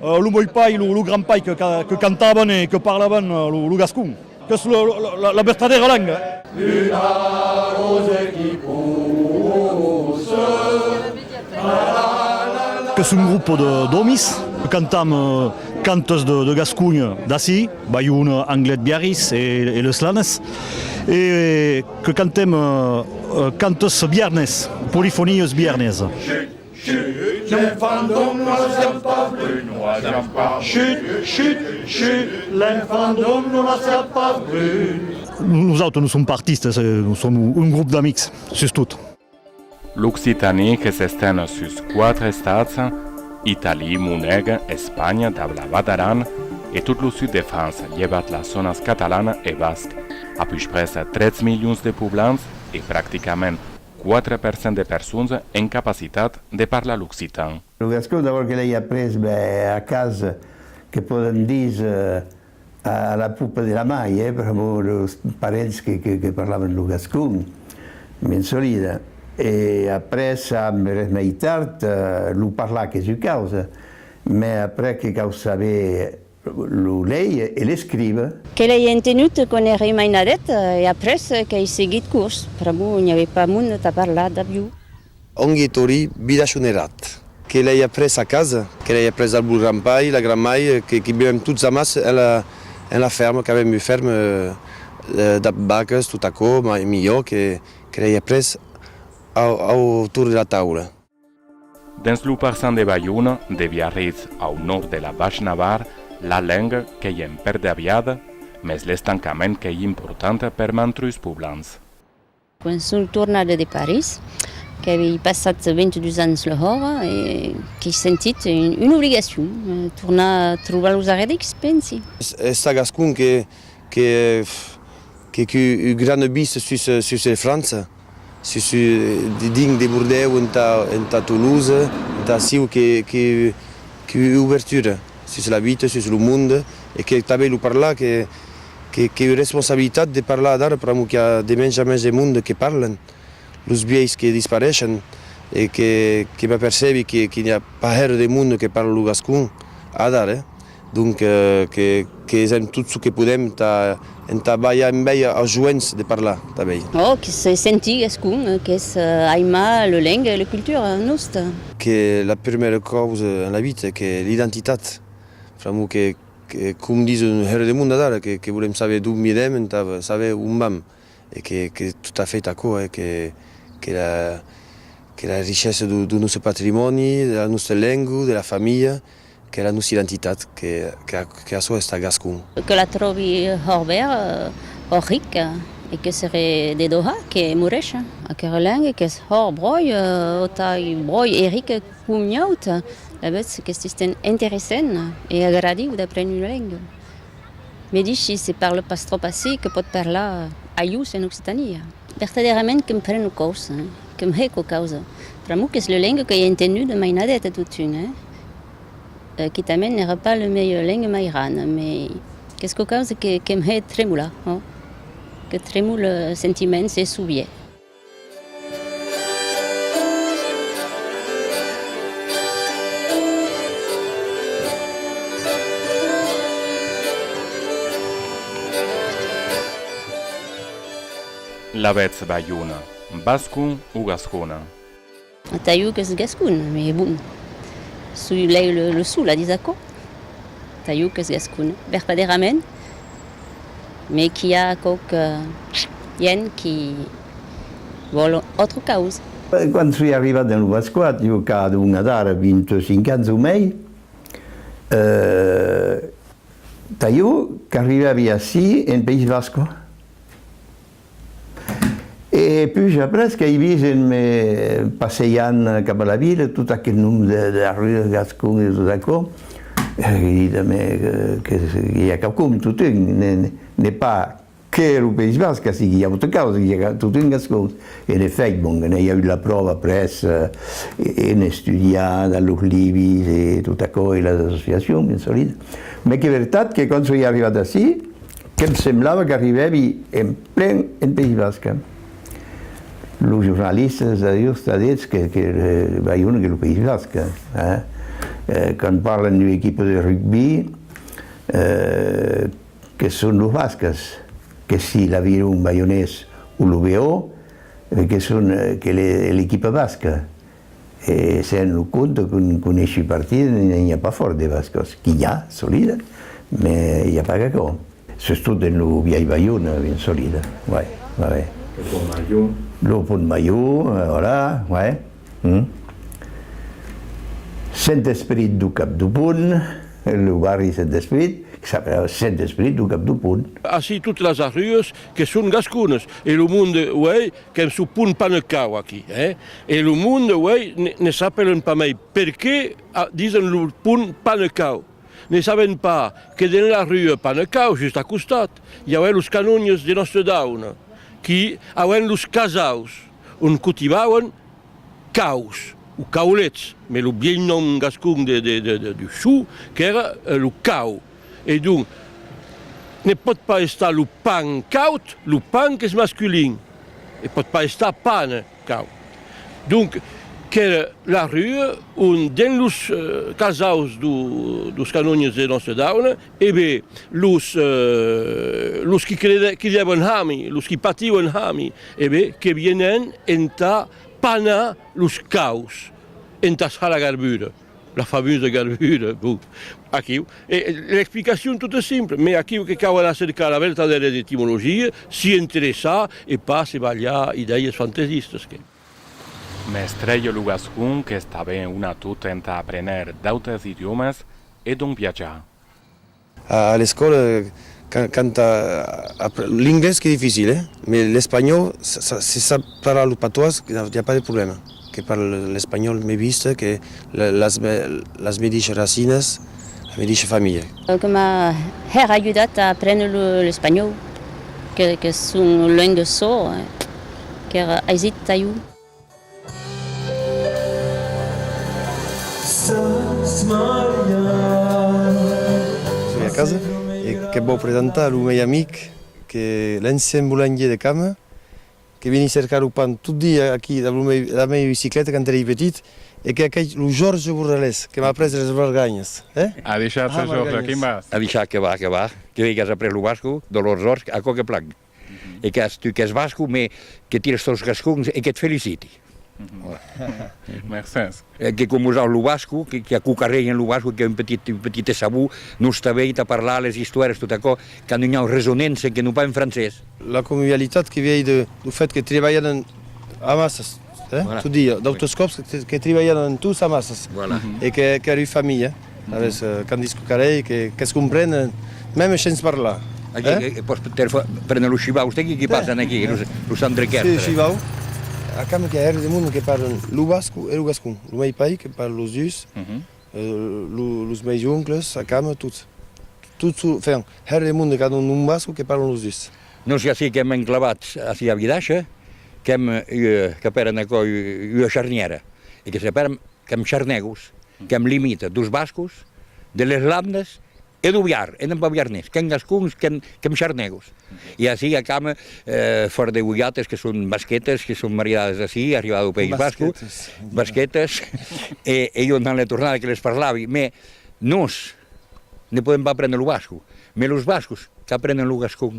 Lo mòi pai, lo grand pai que cantavan e que parlavan lo gascon, qu'es la vertadèra lenga. Una rose qui pousse, tra-la-la-la. Qu'es un grop d'òmis que cantam cantes de Gasconha d'ací, Balhon, Anglet, Biarritz e Les Slanes, e que cantem cantes biarnés, polifonies biarneses. Chut, l'enfant d'Aulnois jam pas brunois, jam pas. Chut, chut, chut, l'enfant d'Aulnois jam pas brun. Nosautres non som pas artistes, nos som un grop d'amics, sus tot. L'occitanie que s'estén sus quatre estats, Italie, Moneg, Espanha dab la Val d'Aran e tot lo sud de França, llevat las zònas catalan e basc, a puspres 13 milions de poblants e practicament Quatre per cent de persons en capacitat de parlar l'occitan. Lo gascon d'abòrd que l'ai après a cas que pòdem dis a la pupa de la mai eh per amor deus parents que parlavan lo gascon ben solida e après amb res mai tard lo parlar qu'es ua causa mès après que cau saber Lo lèie e l'escrive. Que l'ai entenut quand ère mainadet e après qu'ai seguit curs. Pr'amor n'i avè pas mond tà parlar dab iu. Ongue Tori b'i dachon er rat. Que l'ai après a casa. Que l'ai après dab lo gran pair, la gran mair, que qu'i bevèm tots amàs en la ferme, qu'avèm ua ferme dab vaques, tot aquò, mai milhor que l'ai après au torn de la taula. Dens lo parçan de Balhona, de Biarritz au nòrd de la Baish Navarre, la lenga qu'ei en pèrda aviada, mes l'estancament qu'ei important per mantrus poblans. Quan son tornada de París, qu'avei passat 22 ans lehòra, qu'ei sentit una obligacion tornar trobar los arredics, pensi. Es ça gascon que que que que gran bise sus sus el França. Se sou dinc de Bordèu entà Toulouse, entà aciu qu'ei ubertura sus la vita, sus lo mond, e qu'ei tanben lo parlar qu'ei responsabilitat de parlar adara pr'amor qu'i a de mens a mens de monde que parlan, los biais que dispareishan e que m'apercebi que n'i a pas hèr de monde que parla lo gascon adara. Donc que hesèm tot ço que podèm entà balhar en bèi ath joens de parlar tà bèi. Ò que se sentigues com qu'es aimar le lengue e le cultura nosta. Que la prumèra causa en la vita e que l'identitat, pr'amor que com dis un hèro de monde d'ara que volèm saber d'on vidèm entà saber on vam e que qu'es tot a fait aquò e que la richessa dau noste patrimòni, de la nosta lengue, de la familha Que la nosi d'entitat, que açò esta gascon. Que la tròbi horber ò ric, e que sere de Doha que moresha. Aquera lengue qu'es hor bròi ò tai bròi eric com nhaut, la betz qu'es tisten interessent e agradiu d'apréner una lengue. Me dishi se parle pas tròp ací que pòt parlar ajus en Occitania. Vertadèrament que m'preno causa, que m'hèco causa, pr'amor qu'es le lengue que ei entenduda mainadet a totun, quitament n'èra pas le melhor lengmairan, mai qu'esco causa que que m'hè tremolat, ò que tremole sentiments e sovier. L'avètz balhona, bascon o gascona? Atau qu'es gascon, me bon, soi lei lo sol a dis aquò, atau qu'es gascon vertaderament, me qu'i a quauque hien qui vòl autre causa. Quand soi arrivat en lo Vascoat, jo qu'a adonha d'ara 25 ans o mei, atau qu'arribèri ací en País Vasco. E pus après qu'ei vist en me passejant cap a la vila tot aqueth nombre de darrires gascon e tot aquò, ei dit a me que i a quauqu'un, totun, ne pas que lo País Basc, ací i a auta causa, i a totun gascons. En efèit, bon, que n'ei agut la pròva après en estudiar dans los libis e tot aquò e las associacions, ben solida. Mès qu'ei vertat que quand soi arribat ací, Que'm semblava qu'arribèvi en plen en País Basc. Los jornalistas de justa ditz que Bayona qu'es lo País Basc. Quand parlan d'ua equipa de rugbi, que son los Bascas, que si l'Aviron Bayonés o lo BO, que son l'equipa basca. E se an lo compte que non coneshi partida ne i a pas fòrt de bascos, qu'i a, solida, me i a pas qu'aquò. Sustot en lo vièlh Baiona, ben solida, uèi, va ben. Lo pont Major. Lo pont Major, voilà, uèi. Hum. Sent Esperit do cap do pont, lo barri Sent Esperit, que s'apelava Sent Esperit do cap do pont. Ací tot las arrues que son gasconas e lo monde, uèi, Qu'en çò pont pas ne cau aquí, hè? E lo monde, uèi, ne s'apèlen pas mai perqué disen lo pont pas ne cau. Ne saben pas que dens la rua pas ne cau, just a costat, i aué los canonges de Nòstre Daune qui auén los casaus ont cotibauen caus o caulets, mes lo bièlh nom gascon de du chou qu'èra lo cau. E donc, ne pòt pas estar lo pan caud, lo pan qu'es masculin, ne pòt pas estar pane caud. Donc, qu'es la rue ont, dens los casaus dos canonges de Nòstre-Daune, e be, los, los qui crideven hami, los qui patiuen hami, e be, que vienen entà panar los caus, entà halagar bure. La famosa garbura, bon, aquiu e l'explicacion tot es simple, mai aquiu que cau era cercar era vertadèra etimologia, si interessar e pas se balhar idèies fantesistas que. Mestre jo lo gascon qu'es tanben una tot entà aprèner d'autes idiòmas e donc viatjar. A l'escòla, quand apren lo. L'inglés qu'es dificil, eh? Mais l'espanhòu, se sap parlar lo patois, i a pas de problèma. Que parle l'espanhòu mai vist que las mediches racinas, la mediche familha. Que m'a hèr ajudat a aprene l'espanhòu, qu'es un lengue sò, qu'èra aisit tà jo. Soi a casa e que vòu presentar lo mei amic que l'ancian bolangier de Cama que veni cercar lo pan tot dia aquí dab lo mei la mei bicicleta quand erei petit e que aquei lo Jorge Borralés que m'a après las barganhas eh A deishat a Jorge, quin vas? A deishat que va, que va, que vei qu'as après lo basco, Dolors Jorge, aquò que plang. E qu'as tu qu'es basco, me que tires tos gascons e que't feliciti. Mercés. Que com usau lo basco, que que aquo qu'arregen lo basco, qu'es un petit un petit esabou, nos t'avei tà parlar les istoires tot aquò, qu'an un au resonença que non pas en francés. La convivialitat que viei de lo fèt que trebalhadan amassas. Tu di, d'autres còps que tribalhan en tus amassas e qu'èri familha, avès Candice Cucarell, qu'es comprenen mèm shens parlar. E pòs prene los shivaus d'aquí qui passen aquí, los andrequèrs. Si, shivau, acamb que a ère de monde que parlen lo basco e lo gascon, lo mei pair que parle los dus. Los meis oncles, a cama, tots. Tot çò, enfin, hèr de monde qu'an un basco que parlan los dus. Nos ací qu'èm enclavats ací a Vilacha, qu'èm ua, qu'apèran aquò ua charnièra, e que separam, qu'èm charnègos, qu'èm limita dos bascos de les Landes E lo viar, e non va viar nens, qu'en gascons, qu'en charnègos. E ací acam fòra de Goiates, que son basquetes, que son maridadas ací, arribada au País Basco, basquetes, e jo entà la tornada que les parlavi, mès nos ne podèm pas aprendre lo basco, mès los bascos qu'aprenen lo gascon.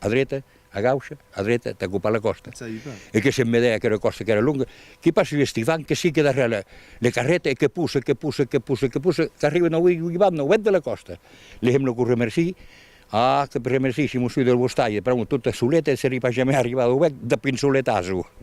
a dreta, a gaucha, a dreta, tà copar la còsta. E que se'n vedè aquera còsta qu'èra longa, que passi l'Estivan, que sigue darrèr la la carreta e que pusse, que pusse, que pusse, que pusse, qu'arriben aué ui van, au hèt de la còsta. Li hèm lo cor remerci, ah, que remerci, si mos sui del vos talhe, pr'amor, tota soleta e se li pas jamè arribar au hèt, dapinsoletàs-o!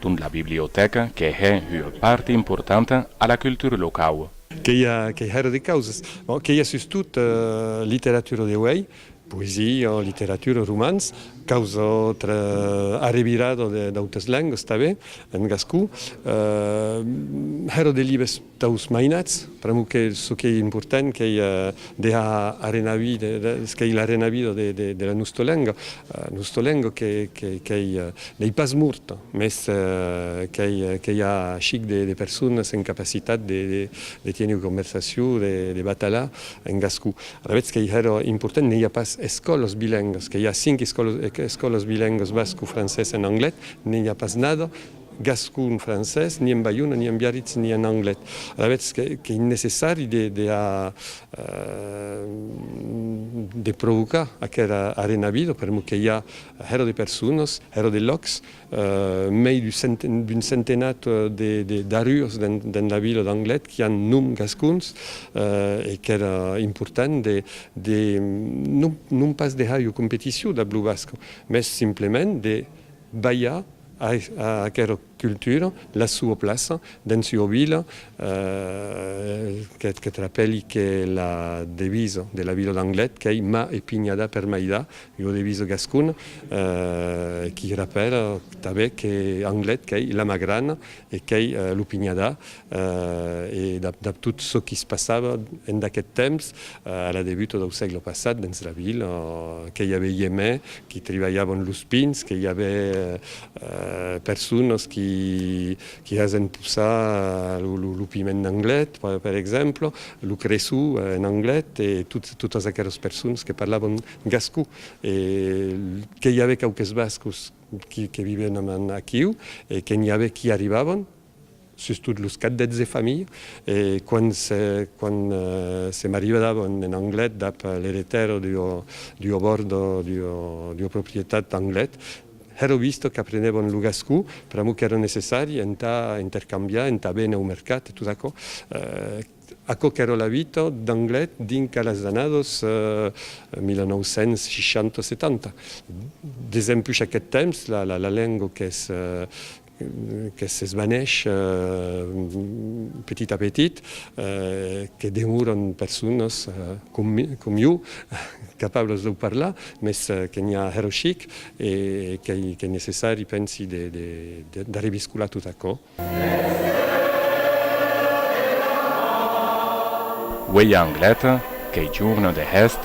Dont la bibliotèca que hè ua part importanta a la cultura locau. Que i a que hèra de causas. Bon, que i a sustot literatura de uèi, poesia, literatura, romans, caus autre arrevirada d'autas lengas tanben en gascon. Hèra de libes. Taus mainats, pr'amor que çò qu'ei important qu'ei dejar arenavir çò qu'ei l'arenavida de la nosta lenga, nosta lenga qu'ei n'ei pas morta, mès qu'ei a chic de personas en capacitat de tier ua conversacion, de batalar en gascon. Alavetz qu'ei hèra important, n'ei a pas escòlas bilengas, qu'ei a cinc escòlas bilengas basco, francés e anglés, n'ei a pas nada gascon, francés, ni en Baiona, ni en Biarritz, ni en anglés. Alavetz qu'ei necessari de a de provocar aquera arenavido per mot que i a hèro de personas, hèro de lòcs, mei d'un centenat d'arrures dens la vila d'Anglet qui an nom gascons e qu'èra important de non pas de hèr ua competicion dab lo basc, mès simplement de balhar A aquera cultura, la sua plaça dens ua vila que trapèli que la devisa de la vila d'Anglet qu'ei Mà e pinhada per m'aidar, ua devisa gascona qui rapèla tanben que Anglet qu'ei la mà grana e qu'ei lo pinhadar e dab tot çò qu'i se passava en d'aqueth temps, a la debuta dau sègle passat, dens la vila, que i avè iemè qui tribalhavan los pins, que i avè personas qui hasen possar lo piment d'Anglet, per exemple, lo creçu en Anglet, e totas aqueras personas que parlavan gascon, e que i avè quauques bascos que vivèn aquiu, e que n'i avè qui arribavan, sustot los cadets de familha, e quan se marivadab en Anglet dab l'eretèro d'ua bòrda d'ua proprietat d'Anglet, hèro visto qu'aprenèbon lo gascon pr'amor qu'èra necessari entà intercambiar, entà véner au mercat e tot aquò. Aquò qu'èra la vita d'Anglet dinc a las annados 1960-70. Desempús aqueth temps, la lenga qu'es que s'esvaneish petit a petit, que demòran personas com jo capablas de parlar, mès que n'i a hèr chic e qu'ei necessari, pensi, de reviscolar tot aquò. Uèi a Anglet, qu'ei jorn de hèst,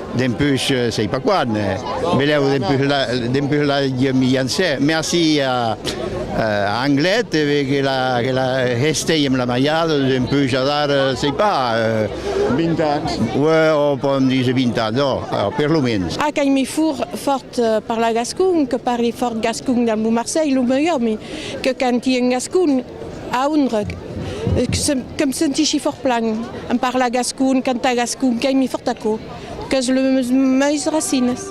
Dempús sei pas quan, belèu dempús la mi jancè merci a Anglet que la hestei amb la maiada, dempús adar sei pas, 20 ans, o pòdem díser 20 ans, ò per lo mens. A qu'ei mi fur fòrt parlar gascon, que parli fòrt gascon damb lo Marcèi, lo meu òmi, que canti en gascon. A Ondreg, que me sentishi fòrt plan en parlar gascon, cantar gascon, qu'ei mi fòrt aquò, qu'es les meis racines.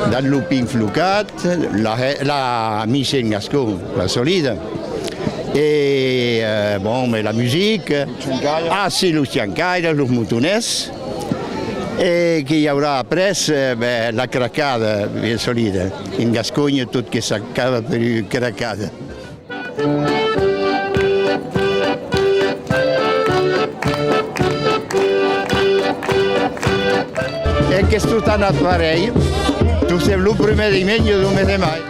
Dins lo pin flocat, la mise en gascon, la solida, e bon, la musique, ah si, los ciancaires, los motonets. E que i aurà après? Ben, la cracada, bien solida. En Gasconha tot que s'acaba per ua cracada. E qu'es tot anat parelh, tostemps lo prumèr dimenge du mes de mai.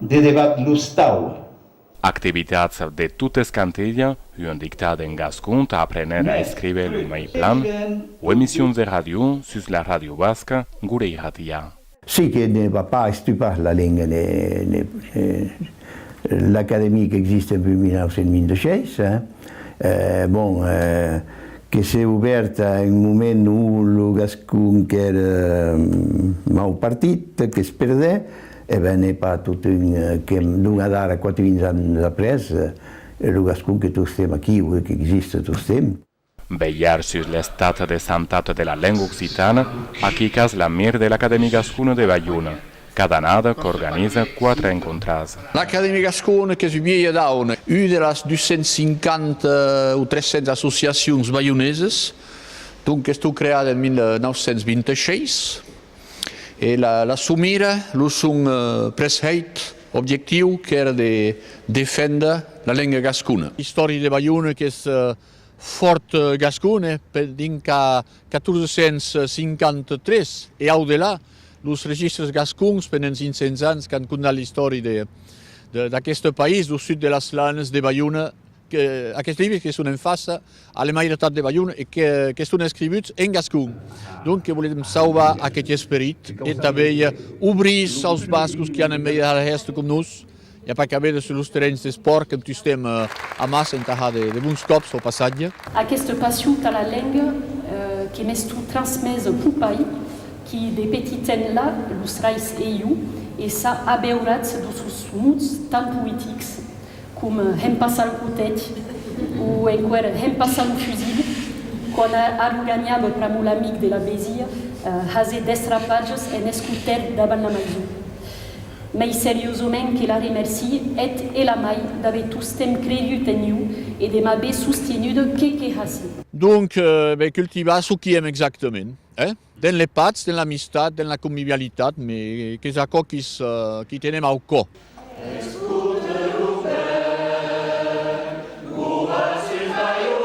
De debat los tau. Activitats de totes cantelha, un dictat en gascon tà aprèner a escriver lo mei plan, o emissions de ràdio sus la ràdio basca Gure Irratia. Si que ne va pas estupar la lenga ne l'Academie qu'existe depuis 1926. Bon, que s'est obèrt a un moment où lo gascon qu'ère mau partit, que se perdè, e ben n'es pas totun que donga d'ara quatre-vints ans après, lo gascon que tostemps aquiu e qu'existe tostemps. Velhar sus l'estat de santat de la lenga occitana, aquí cas la mir de l'Acadèmie Gascona de Balhona, cada annada qu'organiza quatre encontras. L'Acadèmie Gascona qu'es un vielh daun, un de las 250 o 300 associacions balhoneses, donc estó creada en 1926 e la son mira, lo son preshèit, objectiu, qu'ère de defénder la lenga gascona. L'istòria de Balhona qu'es Fòrt gascon e per dinc qu'a 1453 e au delà los registres gascons pendent 500 ans qu'an condat l'istòri de d'aqueste país dau sud de las Lannes de Balhona que aquests libres que son en faça a la mairietat de Balhona e que qu'eston escrivuts en gascon donc que volem sauvar aqueth esperit e tanben obrir aus bascos qui an emèit a l'èst com nos. I a pas qu'a véder sus los terrenhs d'espòrt qu'entustem amassa entà har de bons còps lo passatge. Aquesta passion tà la lenga que m'estó transmés può pair qui de petitenla los rais eiu e s'a abeurat de sos mots tan poetics com hempassa lo cotet o enquer hempassa lo fusil quand a lo ganhab pr'amor l'amic de la besia hase destrapatges en escoter davant la maison. Mei seriosament que la remercie, eth e la mai d'aver tostemp cregut en iu e de m'aver sostenuda qué que hassi. Donc, ben, cultivar çò qui èm exactament, eh? Dens les patz, dens l'amistat, dens la convivialitat, me, qu'es aquò quis, qui tenem au cò. Escoute lo vent, lo vent s'incaiona.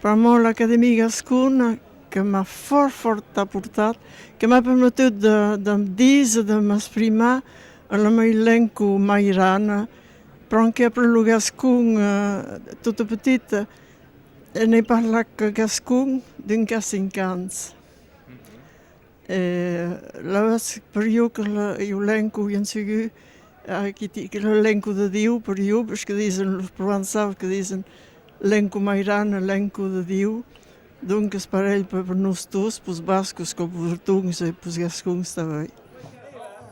Pr'amor l'Academia Gascona que m'a fòrt fòrt aportat, que m'a permetut de de me díser, de m'exprimar en la mei lenco mairana, pr'amor qu'è après lo gascon tota petita e n'è parlat que gascon d'un qu'a cinc ans. E lèu per jo que lo lenco vien sigut aqueth lo lenco de Diu per jo, per ce que disen los provençaus que disen lenco mairan e lenco de Diu, donques parelh per nos tous, pus bascos coma pus bretoncs e pus gascons tanben.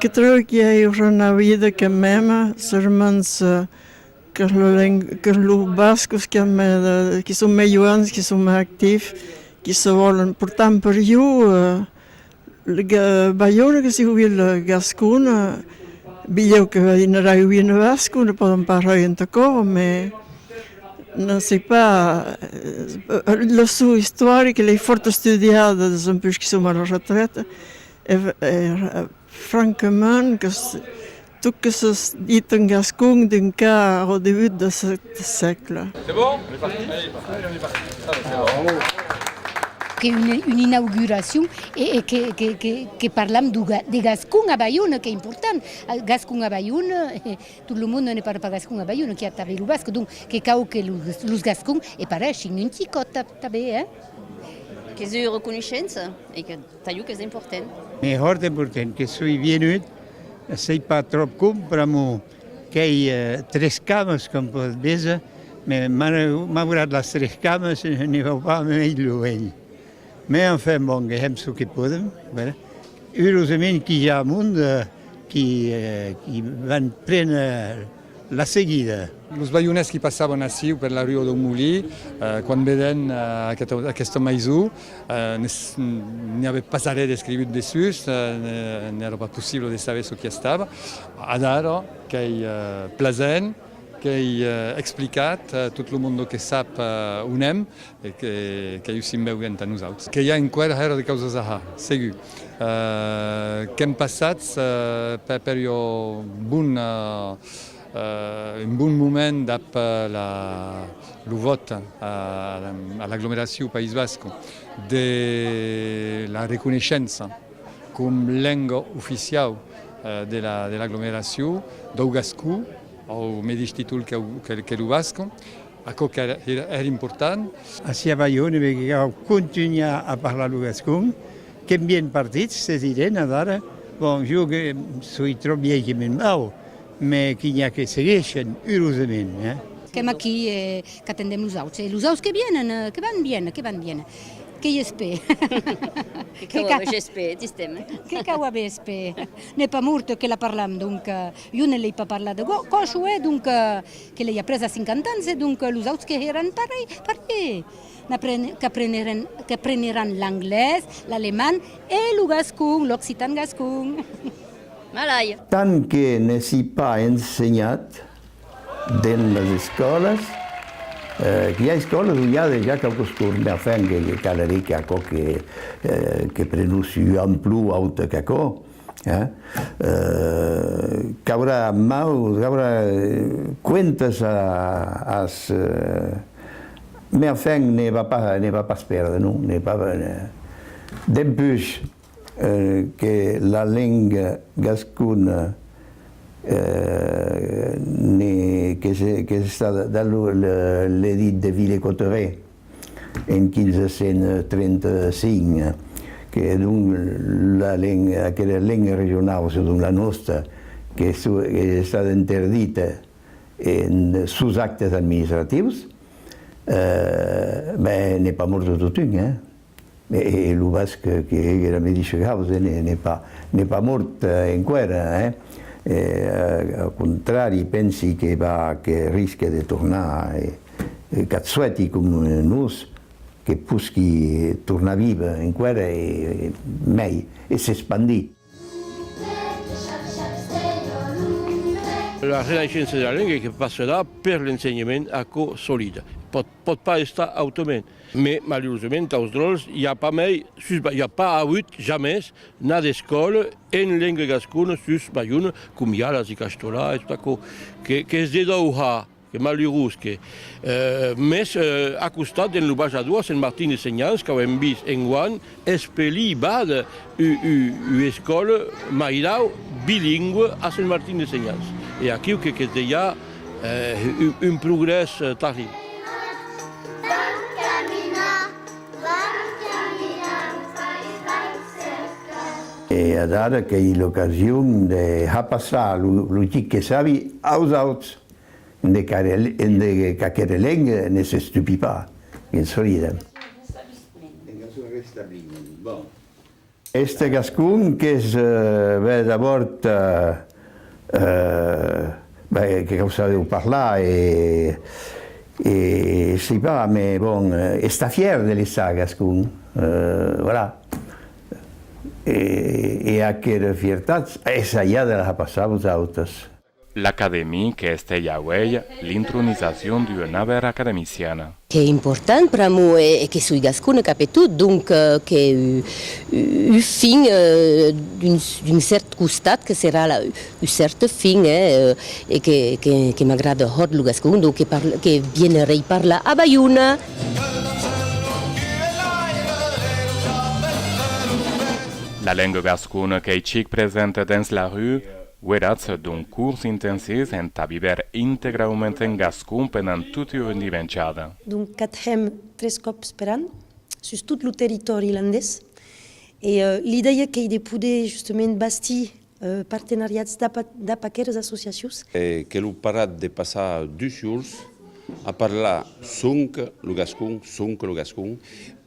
Que tròu qu'i a ua rana vida que mèma sur mans qu'es lo leng qu'es lo bascos qu'i a mè qu'i son mè joans qu'i son mè actif qu'i se vòlen portar en per iu ga balhona que si hui la gascona bilhèu que vei n'era hui ne bascona pòden pas rei entà cò me Non se pas, lo sò istoric l'ai fòrt estudiat dempús que som a la retrèta e francament que tot que se dit en gascon d'un cas au debut de cet sègle. Que un inauguracion e que parlam de gascon a Baiona, qu'es important, gascon a Baiona. Tot lo monde ne parle pas gascon a Bayonne, qu'i a tanben lo basc, donc que cau que los gascon e pareishin un ticòt tanben, hein? Que soi reconoishent e que talhou qu'es important. M'es hòrt important que soi vienut, sei pas tròp com pr'amo qu'ei tres cames com pòt véser, me m'an maurat las tres cames, ne vau pas a mai luenh. Mai enfin bon gèm çò que podèm bèla urosament qu'i ja a mond qui qui van pren la seguida. Los baionés qui passavan aciu per la rua dau molí quan vedèn aquesta maison n'i avè pas arrè d'escrigut dessús n'èra pas possible de saber çò qui estava adara qu'ei plasent qu'ei explicat tot lo monde que sap on èm E qu'ei o simbèu que entà nosauts. Que i a enqüèra hèra de causas ahà, segur. Qu'èm passats per ua bona, un bon moment dab lo vòt a l'aglomeraciu País Basc de la reconeishença com lenga oficiau de l'aglomeraciu dau gascon au medish títol que lo basc. Aquò qu'ère important. Ací a Balhona me cau contunhar a parlar lo gascon, qu'èm bien partits, se dident adara, bon, jo que soi tròp vièlh que me'n vau, mès qu'i n'i a que seguishen, urosament, eh! Qu'èm aquí e qu'atendèm los auts, e los auts que vienen, que van bien, que van bien, que i espè? Que cau aver j'espè, tistèm? Que cau aver espè? N'es pas mort que la parlam, donc, jo ne l'ei pas parlat de còsh, uèi, donc. Que lei a pres a cinquanta ans e donc los auts que hèran parelh, parelh, qu'aprenheràn l'anglés, l'alemand e lo gascon, l'occitan gascon. Malai! Tant que ne si pas ensenhat dens las escòlas, qu'i a escòlas on i a dejà quauques cors, mai enfin que caleré qu'a quò que prenussi un plan plus aute qu'aquò. Caurà mau, caurà cuentas as... Mès enfin ne va pas, ne va pas perdre, non, ne va pas perdre. Dempús que la lenga gascona ne... qu'es estada, d'a lo le dit de Villers-Cotterets, en 1535, que donc la lenga, aquera lenga regionau, se donc la nòsta, que es estada interdita en sos actes administratius, ben n'es pas morta totun, hein. E lo basc que hège era medisha causa n'es pas mort enqüèra, au contrari, pensi que va que risque de tornar e qu'ath suèti com nos que posqui tornar vive enqüèra e mèi e s'espandir. La renaissença de la lenga que passarà per l'ensenhament, aquò solida. Pòt, pòt pas estar autrament. Me, malurosament, aus dròlles, i a pas mai, sus Ba, i a pas avut, jamès, na d'escòla en lenga gascona sus Bajouna, com i a las de Castolà e tot aquò, que, qu'es de dau ha. Que malurós que. Mès a costat d'en lo bajador Sent Martin de Senhans qu'auem vist enguan espelir bada ua escòla mairau bilingüe a Sent Martin de Senhans e aquiu que que's dejà un progrès tarriu. E adada qu'ei l'ocasion de hapassar lo chic que sabi aus auts. ende qu'aquere leng ne s'estupi pas, qu'e'ns friden. Este gascon qu'es bèth avòrt, ben, que cau saber-o parlar e e sei pas, me bon, estar fièr de l'essar gascon, voilà. E aquera fiertat, esa ja de la passar a vos autres. L'Academie que estèi a uèlh l'intronisacion d'ua naver academiciana. Qu'es important pr'amor e que soi gascona cap e tot, donc qu'es ua fin d'un cèrt costat que serà la ua cèrta fin e que m'agrada hòrt lo gascon, donc que vienerèi parlar a Baiona. La lenga gascona qu'ei chic presenta dens la rua. Guèratz d'un cors intensés entà viver integraument en gascon pendant tota ua dimenjada. Donc catjèm tres còps per an sus tot lo territòri ilandés e l'idèia qu'ei de poder justament bastir partenariats dab aqueras associacions. Que lo parat de passar dus jorns A parlar sonque lo gascon, sonque lo gascon,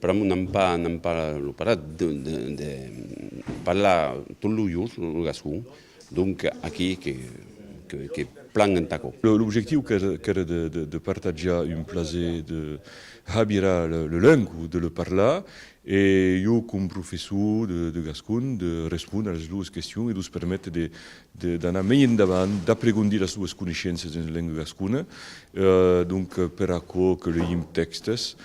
pr'amor n'an pas, n'an pas lo parat de, de, de parlar tot lo jorn lo, lo gascon, donc aquí que, que, que plan enta aquò. L'objectiu qu'ère, qu'ère de, de, de partatjar un plaser de habirar le, le lengo, de le parlar, e jo com professor de, de gascon de respondre a las doas questions e d'os permetre de, d'anar mei endavant, d'apregondir las suas coneishenças en lenga gascona, donc per aquò que leim tèxtes,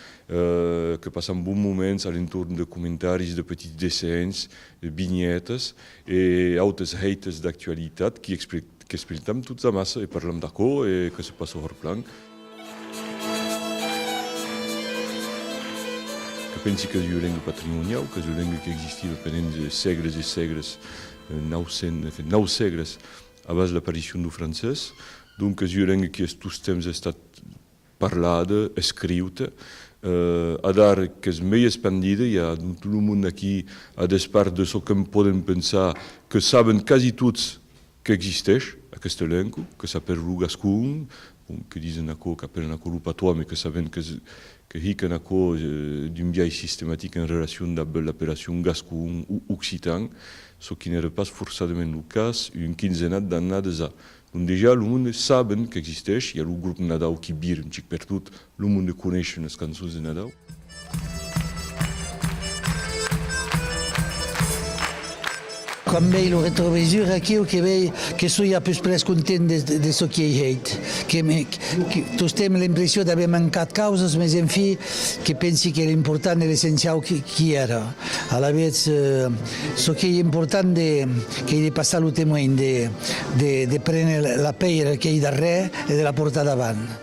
que passam bons moments a l'entorn de comentaris, de petits dessenhs, de vinhètas e autes hèites d'actualitat qui qu'espeltam tots amassa e parlam d'aquò e que se passa horplan. Que pensi qu'es ua lenga patrimoniau, qu'es ua lenga qu'existiva pendent de sègles e sègles, nau sèn, en fin, nau sègles abans l'aparicion dau francés. Donc qu'es ua lenga qui es tostemps estat parlada, escriuta. Adar qu'es mei espandida, i a dont tot lo mond aquí, a despart de çò que'm podem pensar, que saben quasi tots Qu'existèsh aqueste elenco, que s'apèl lo gascon, bon, que disen aquò, qu'apèlen aquò lo patois, me que sabem que que hiquen aquò d'un biais sistematic en relacion dab l'apelacion gascon o occitan, çò qui n'ère pas forçadament lo cas un quinzenat d'annades a. Dondejà, lo monde saben qu'existèsh, i a lo grop Nadau qui vir un chic pertot Lo monde coneishe unas cançons de Nadau. Quan vei lo retrovisur aquiu que vei que soi a pus pres content de de çò qui ei hèit. Que me que tostemp l'impression d'aver mancat causas mes en fi que pensi que l'important e l'essenciau qui qui èra. Alavetz çò qu'ei important de qu'ei de passar lo temoin de de de prene la pèira qu'ei darrèr e de la portar davant.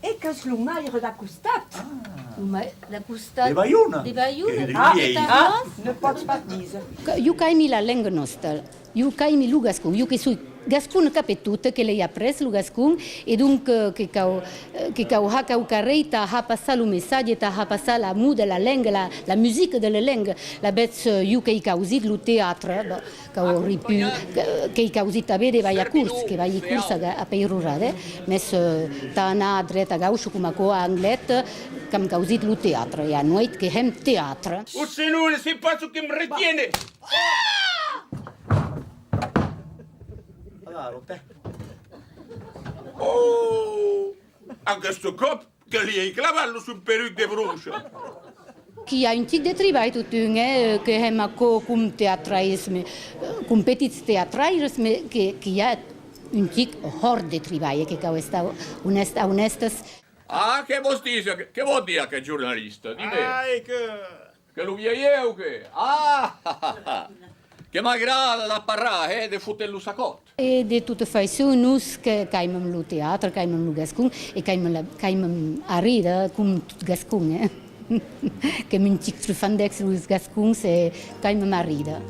E qu'es lo maire d'a costat? Lo maire d'a costat. De Baiona. De Baiona. Ah! Ah! Ne pòts pas díser. Jo qu'aimi la lenga nòsta. Jo qu'aimi lo gascon. Jo que soi gascona cap e tot, que l'ei après lo gascon e donc que cau que cau har cau carrei tà har passar lo messatge, tà har passar la moda, la lenga, la la musica de la lenga. La betz jo qu'ei causir lo teatre. qu'auri put qu'ei causit tanben de balhar curs, que balhi curs a peirurada, mès tà anar a dreta a gaucha coma aquò a Anglet, qu'am causit lo teatre, e anoit que hèm teatre. O senon ne sais pas ce que me retiene! Ohh! Aguest còp Que li ei clavat lo son peruc de broncha. Qu'i a un tic de tribalh totun, eh, que hèm aquò com teatraires, me, com petits teatraires, me, que, qu'i a un tic hòrt de tribalh, eh, que cau estar onèst, a onèstes. Ah, que vos dise, que vò dire aqueth jornalista? Dime. Ai, que, Que lo vieieu que? Ahahaha! Que m'agrada de parrar, hè, de foter lo sacòt! E de tota faiçon, nos qu'aimam lo teatre, qu'aimam lo gascon, e qu'aimam arridre, com tot gascon, hè? Qu'èm un chic trufandècs los gascons e qu'aimam arridre.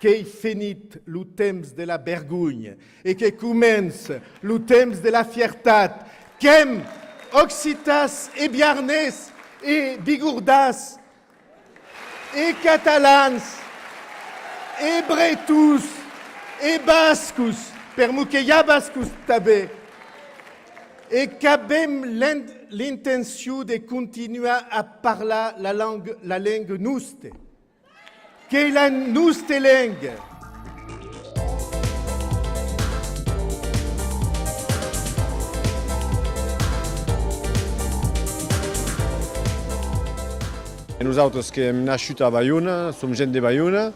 Qu'ei fenit lo temps de la bergonha e que comence lo temps de la fiertat, qu'èm occitas e biarnés e bigordás e catalans e bretons e bascos, per mo que i a bascos tanben, e qu'avèm l'intencion de continuar a parlar la lenga nosta. Qu'ei la noste lenga! Nosautres qu'èm nascut a Baiona, som gent de Baiona,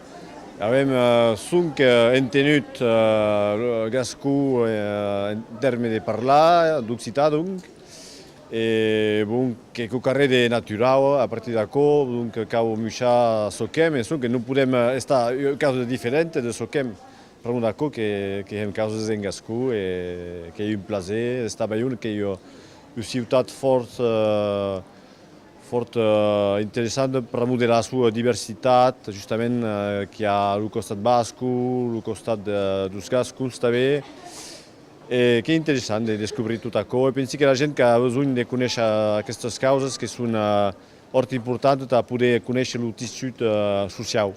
avèm sonc entenut lo gascon en tèrme de parlar, d'occitan donc. E bon, qu'ei qu'o carrèr de naturau, a partir d'aquò, donc cau muchar çò qu'èm, e sonque non podèm estar ua causa de diferenta de çò qu'èm, pr'amor d'aquò que hèm causas en gascon, e qu'ei un plaser d'estar a Balhona, qu'ei ua ciutat fòrt, fòrt interessanta pr'amor de la soa diversitat, justament qu'i a lo costat basco, lo costat dos gascons tanben, E qu'ei interessant de descobrir tot aquò e pensi que la gent qu'a besonh de conéisher aquestas causas que son hòrt importantes tà poder conéisher lo tissut sociau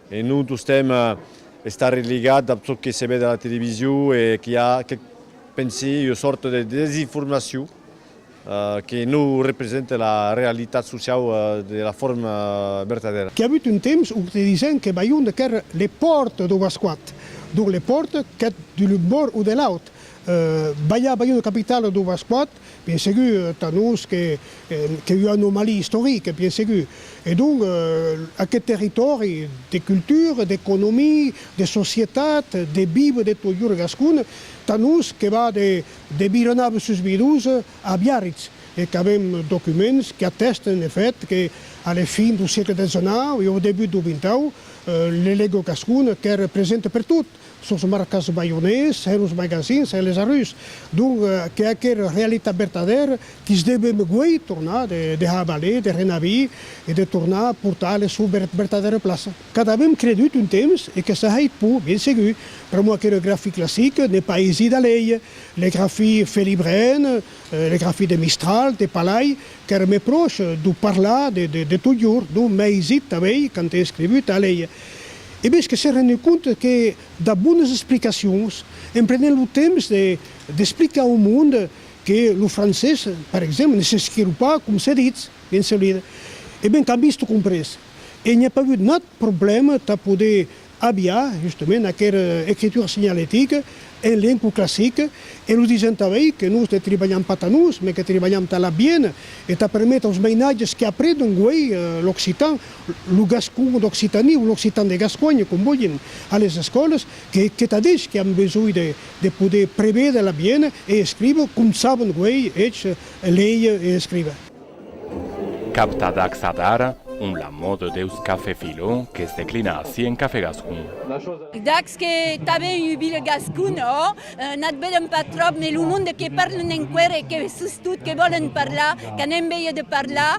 e non tostemp estar religat dab çò que se ved a la television e qu'i a quec, pensi jo, sòrt de desinformacion Que non represente la realitat sociau de la forma vertadèra. Qu'i avut un temps où te disen que Bayon de qu'ère le pòrt dau Bascoat, donc le pòrt qu'eth de l'un bòrd ou de l'aut. Balhar Bayon de capitala dau Bascoat, bien segur, tà nos qu'ei ua anomalie istorique, bien segur. E donc, aqueth territòri de cultura, d'economia, de societat, de viva de tot iur gascon, tà nos que va de De vironab sus virus a Biarritz, e qu'avèm documents qu'atèsten eth hèt que, a la fin dau siecle xix e au debut dau xxau, le Lego gascon qu'ère present pertot, sos marcats baionés, heros magasins e les arrus. Donc, que aquera realitat vertadèra quis devem guei tornar de havaler, de renavir e de tornar portar a la sua vertadèra plaça. Qu'a avèm credut un temps, e que s'ahèit pur, bien segur, per moi que le graphie classique ne pas aisit a leir, le graphie felibrèn, le graphie de Mistral, de Palay, qu'ère mès pròche dau parlar de, de, de totjorn, donc m'a aisit tanben, quand è escrivut, a leir. E bèth que s'è renut compte que dab bones explicacions, en prenent lo temps de, d'explicar au monde que lo francés, per exemple, ne s'escriu pas com se ditz, bien segur, e ben qu'à vist comprés. e n'i a pas avut nat problèma tà poder aviar justament aquera ecritura signalética en lengo classic, e lo disent tà ei que nos ne tribalham pas tà nos, mes que tribalham tà l'abient e tà perméter aus mainatges qui apredon guei l'occitan, lo gascon d'Occitanie o l'occitan de Gasconha, com volhin, a les escòlas, que qu'et ad elhs qui an besonh de de poder prevéder l'abient e escriver com sabon guei elhs léier e escriver. Capta d'acsa d'ara, ont la mòde deus cafè Filó que's declina ací en Cafè Gascon. Dacs que tanben un ville gascon, ò? N'at vedèm pas tròp, mès lo monde que parlen enqüèr e que, sustot, que vòlen parlar, qu'an enveja de parlar.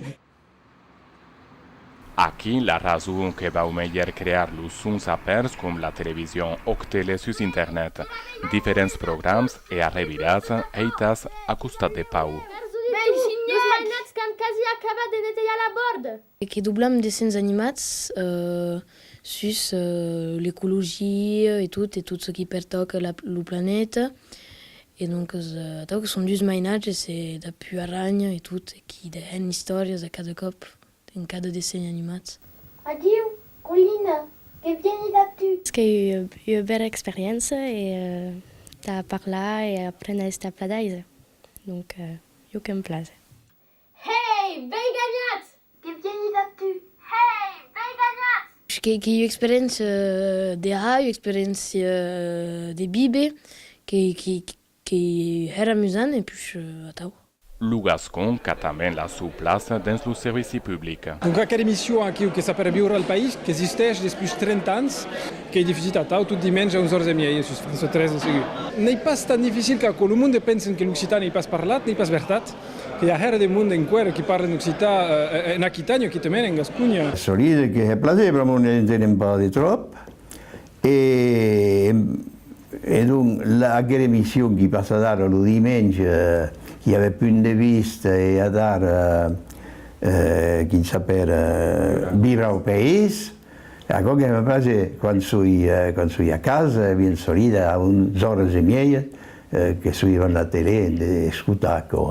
Aquí la rason que vau melhèr crear los sons apèrts com la television òc tele sus internet, diferents programs e arrevirats hèitas a costat de pau. Los mainats qu'an quasi acabat de netejar la bòrda. E que doblam dessenhs animats sus l'ecologia e tot, e tot çò qui pertòca lo planeta, E doncas, atau que son dus mainatges e dapú arranha e tot, e qu'i dèhen istòrias a cada còp en cada dessenh animat. Adiu, Colina, que vieni dapú! Es que ei ua bèla experiéncia e tà parlar e apréner a estar pladaisa, donc jo que em place. Hei! Vei ganhat! Que bien i va tu? Hei! Vei ganhat! Que que ua experiéncia de ha, ua experiéncia de vive, que que que hèr amusant e pus atau. Lo gascon qu'a tanben la sua plaça dens lo servici public. Donc aquera emission aquiu que s'apèra Viure al País, qu'existèch despús 30 ans, qu'ei difusida atau tot dimenge a 11 ors e miei sus France 3 en seguit. N'ei pas tan dificil qu'aquò. Lo monde pensen que l'occitan ei pas parlat, n'ei pas vertat. Que i a hèra de monde enqüèra qui parlen occitan en Aquitània o quitament en Gasconha. Solide que hè plaser, però mos n'entenem pas de tròp. E donc, aquela emission qui passat ara lo dimenge, qui avèt punt de vista e adara, quin sapèra, Viure au pays, aquò que me place quan soi a casa, bien solida, a 11 oras e mièja, Que suivan la tele, de escotar aquò,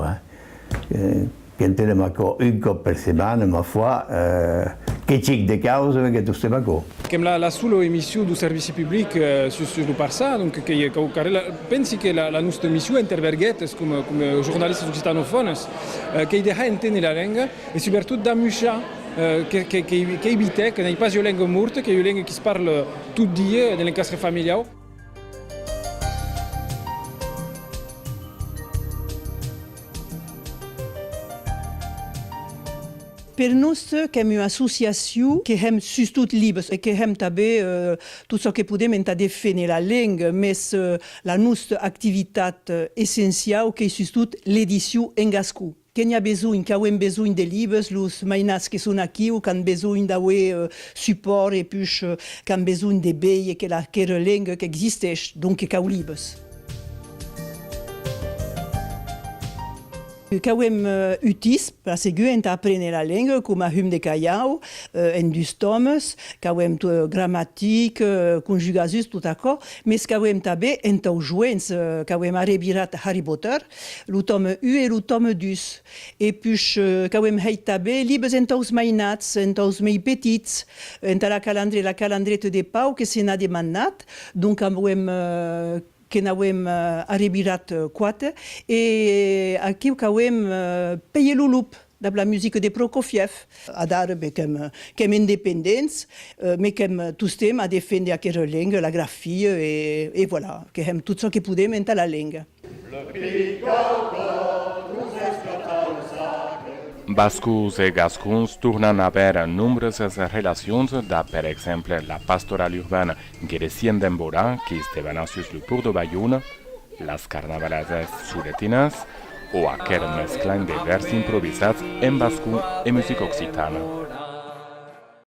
que entenem aquò un còp per setmana, ma foi, que chic de causa me que tostem aquò. Qu'èm la sola emission dau servici public sus lo parçà, donc qu'ei aquò qu'arrèla. La, pensi que la, la nòsta emission interverguèt es coma, coma jornalistas occitanofònes, qu'ei de har enténer la lenga e subretot d'amuchar, que, que, qu'ei, qu'ei vitèc, n'ei pas ua lenga morta, qu'ei ua lenga qui se parle tot dia, de l'encastre familiau. Per nos qu'èm ua associacion que hèm sustot libres e que hèm tanben tot çò que podem entà deféner la lenga, mès la nosta activitat essenciau qu'ei sustot l'edicion en gascon. Que n'i a besonh, qu'auem besonh de libes, los mainats que son aquiu qu'an besonh d'auer supòrt e pus qu'an besonh de veir que la querelengua qu'existeish, donc que cau libes. Qu'auem utís per seguir entà aprene la lengua coma hum de calhau en dus tòmes, qu'auem gramatic, conjugasus, tot aquò, mes qu'auem tanben entau joents qu'auem ara virat Harry Potter, lo tòme u e lo tòme dus, e push qu'auem hèit tabé libes entaus mainats, entaus mei petits, enta la calandre, la calandrete de Pau que se n'a demannat, donc auem que n'auem arrebirat quate, e aquiu qu'auem Pèie lo lup, dab la musique de Prokofiev. Adara be qu'èm independents, me qu'èm tostemp a defendre aquera lenga, la grafia, e voilà, que hèm tot çò que podem enta la lenga. Le pic dau còr nos esclata un sacre. Bascos e gascons tornan a aver nombrosas relacions, dab per exemple la pastorala urbana Gueresièn d'Embora qu'es debana sus lo pòrt de Baiona, las carnavalasas soletinas o aquel mesclan de vèrs improvisats en bascon e musica occitana.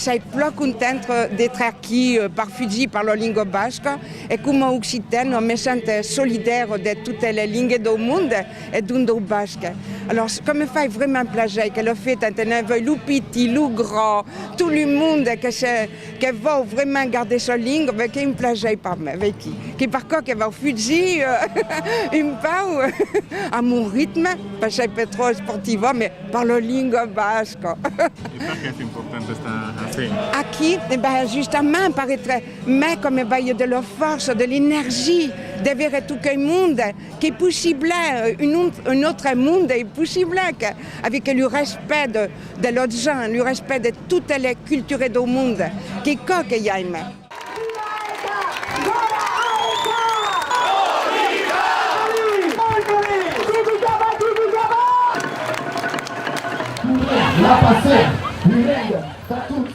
Sai plan content d'etre aquí per fugir per la lingua basca e coma occitan me sent solidar de totes les lingues dau monde e dont dau basc. Alòrs que me fai vraiment plaser que lo fetan tener veu lo pitit, lo grand, tot lo monde que se Que vau vraiment garder sa lingue ve que un plajèi per me ve qui qui per quò que vau fugir un pau a mon ritme per sei per trò esportiva me parlo lingua basca. E per qué es important estar ací? Aquí e ben justament per etre me com me baie de la força de l'energie de vere tot quei monde qu'es possible un un autre monde es possible que avec le respect de De lòt gens, lo respèct de totes les cultures dau mond, qu'ei cò que jaime. Voudriam la paser, virèia, tà tots.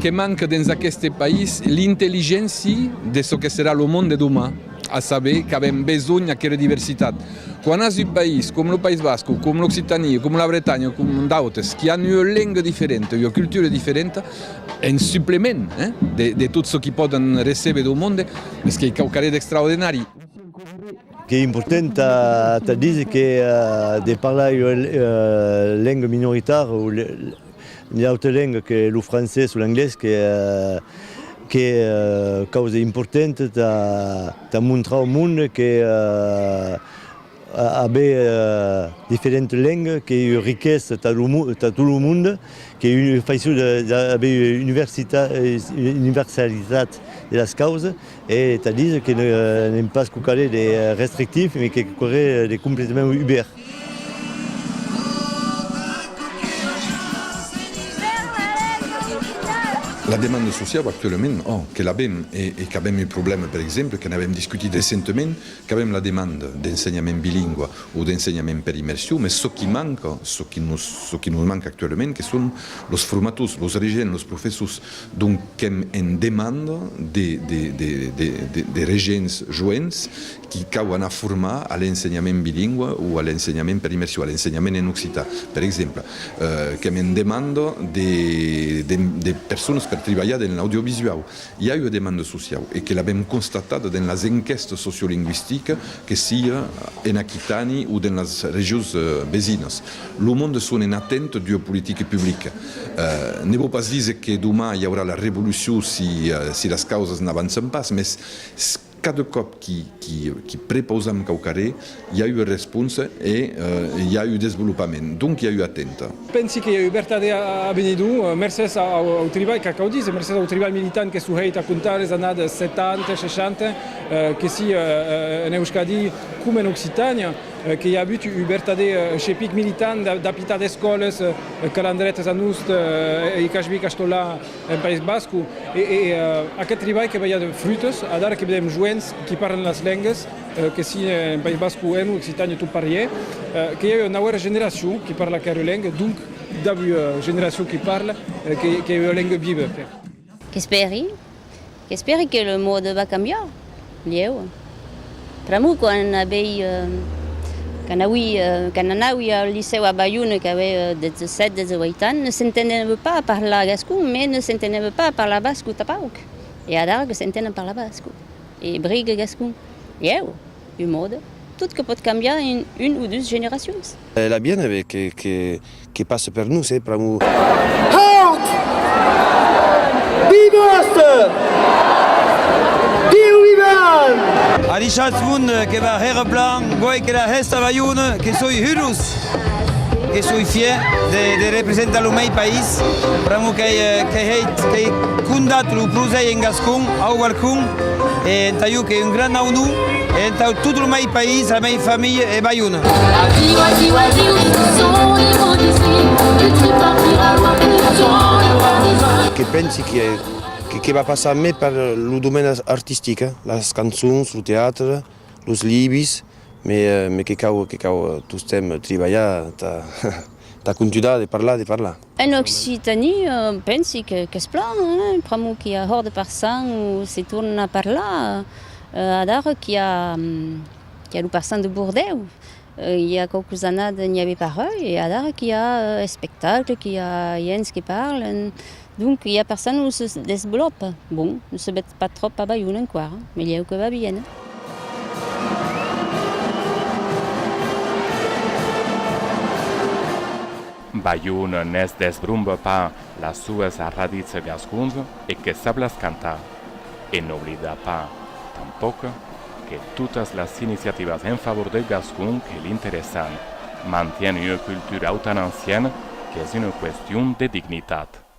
Que manque dens aqueste país l'intelligénci de çò que serà lo mond de doman, a saber qu'avèm besonh aquera diversitat. Quan as un país com lo País Basc o com l'Occitanie o com la Bretanha o com d'autes qui an ua lenga diferenta, ua cultura diferenta, en suplement de tot çò qui pòden recéber dau monde, es qu'ei quauquarre d'extraordinari. Qu'ei important tà díser que de parlar ua lenga minoritara o. Una auta lenga que lo francés o l'anglés que que causa importanta ta ta montrar au monde que aver diferentas lengas qu'ei ua riquesa ta lo monde ta tot lo monde qu'ei un faisson d'aver una universitat universalitat de las causas E tà díser que n'èm pas quauquarre de restrictif, mai quauquarre de completament ubèrt. La demanda sociau actualament, ò, que l'avèm e qu'avèm un problèma, per exemple, que n'avèm discutit recentament, qu'avèm la demanda d'ensenhament bilingua o d'ensenhament per immersion, mas çò qui manca, çò qui nos manca actualament, que son los formators, los regents, los professors. Donc qu'èm en demanda de regents joents qui cau anar formar a l'ensenhament bilingüe o a l'ensenhament per immersion, a l'ensenhament en occitan, per exemple. Qu'èm en demanda de personas per tribalhar dens l'audiovisuau. I a ua demanda sociau e que l'avèm constatat dens las enquèstas sociolingüistiques, que siá en Aquitània o dens las regions vesinas. Lo monde son en atent d'ua politique publique. Ne vò pas díser que doman i aurà la revolucion si las causas n'avançan pas, mès cada còp qui prepausam quauquarré, i a ua responsa e i a ua desvolopament. Donc i a ua atenta. Pensi que i a ua vertadèr avenidor, mercés au tribalh, cal quau díser, mercés au tribalh militant que s'o hèit a contar les annadas 70, 60, que si en Euskadi coma en Occitània. Que i a avut un vertadèr chepic militant d'apitar d'escòles calandretas a Nust e Cajbi Castolà en País Bascu. E aqueth tribalh que balha de frutos, adara que vedèm joents qui parlen las lengues, que si en País Bascu e en Occitània tot pariè, que i a ua nauèra generacion qui parla aquera lenga, donc d'avui generacion qui parla, que i a ua lenga viva. Qu'espèri? Qu'espèri que le monde va cambiar? Lhèu. Pr'amor quand avei, quand aui, quand anaui al licèu a Bayonne qu'avei 17, 18 ans, ne s'entenève pas a parlar gascon, mès ne s'entenève pas a parlar basco tapauc. E adara que s'entén a parlar basco, e brigue gascon. Lhèu. Un monde. Tot que pòt cambiar en un o dus generacions. L'a bien aver que, que. que passe per nos e pr'amor. Haut! Vive Oste! Diu Vivan! A Richard Mund que va hèr plan guai que la hèsta Balhona que soi hurós que soi fier de representar lo mei país pr'amor qu'ei hèit qu'ei condat lo prosèi en gascon au balcon. E entà jo qu'ei un gran aunor e entà tot lo mei país, la mei familha e Baiona. Adiu, adiu, adiu, soi lo destin que tu partiras loin que le temps est loin des hommes. Que pensi que que va passar mai per lo domèn artistic, las cançons, lo teatre, los libis, mai que cau tostemps tribalhar entà conturar de parlar, de parlar. En Occitanie pensi qu'es plan, pr'amor qu'i a hòrde per sang o se tornen a parlar, adara qu'i a lo per sang de Bordèu i a quauques annades n'i avè pas rai e adara qu'i a espectacles, qu'i a ients que parlen, donc qu'i a per sang o se desvolopa, bon, Pas tròp abalhon enquara, melhèu que va bien. Balhon ne's desbrombe pas las sues arradits gascons e que sap las cantar. E n'oblida pas, tanpòc, que totas las iniciativas en favor deu gascon que l'interessan mantien ua cultura autan ancienne qu'es una question de dignitat.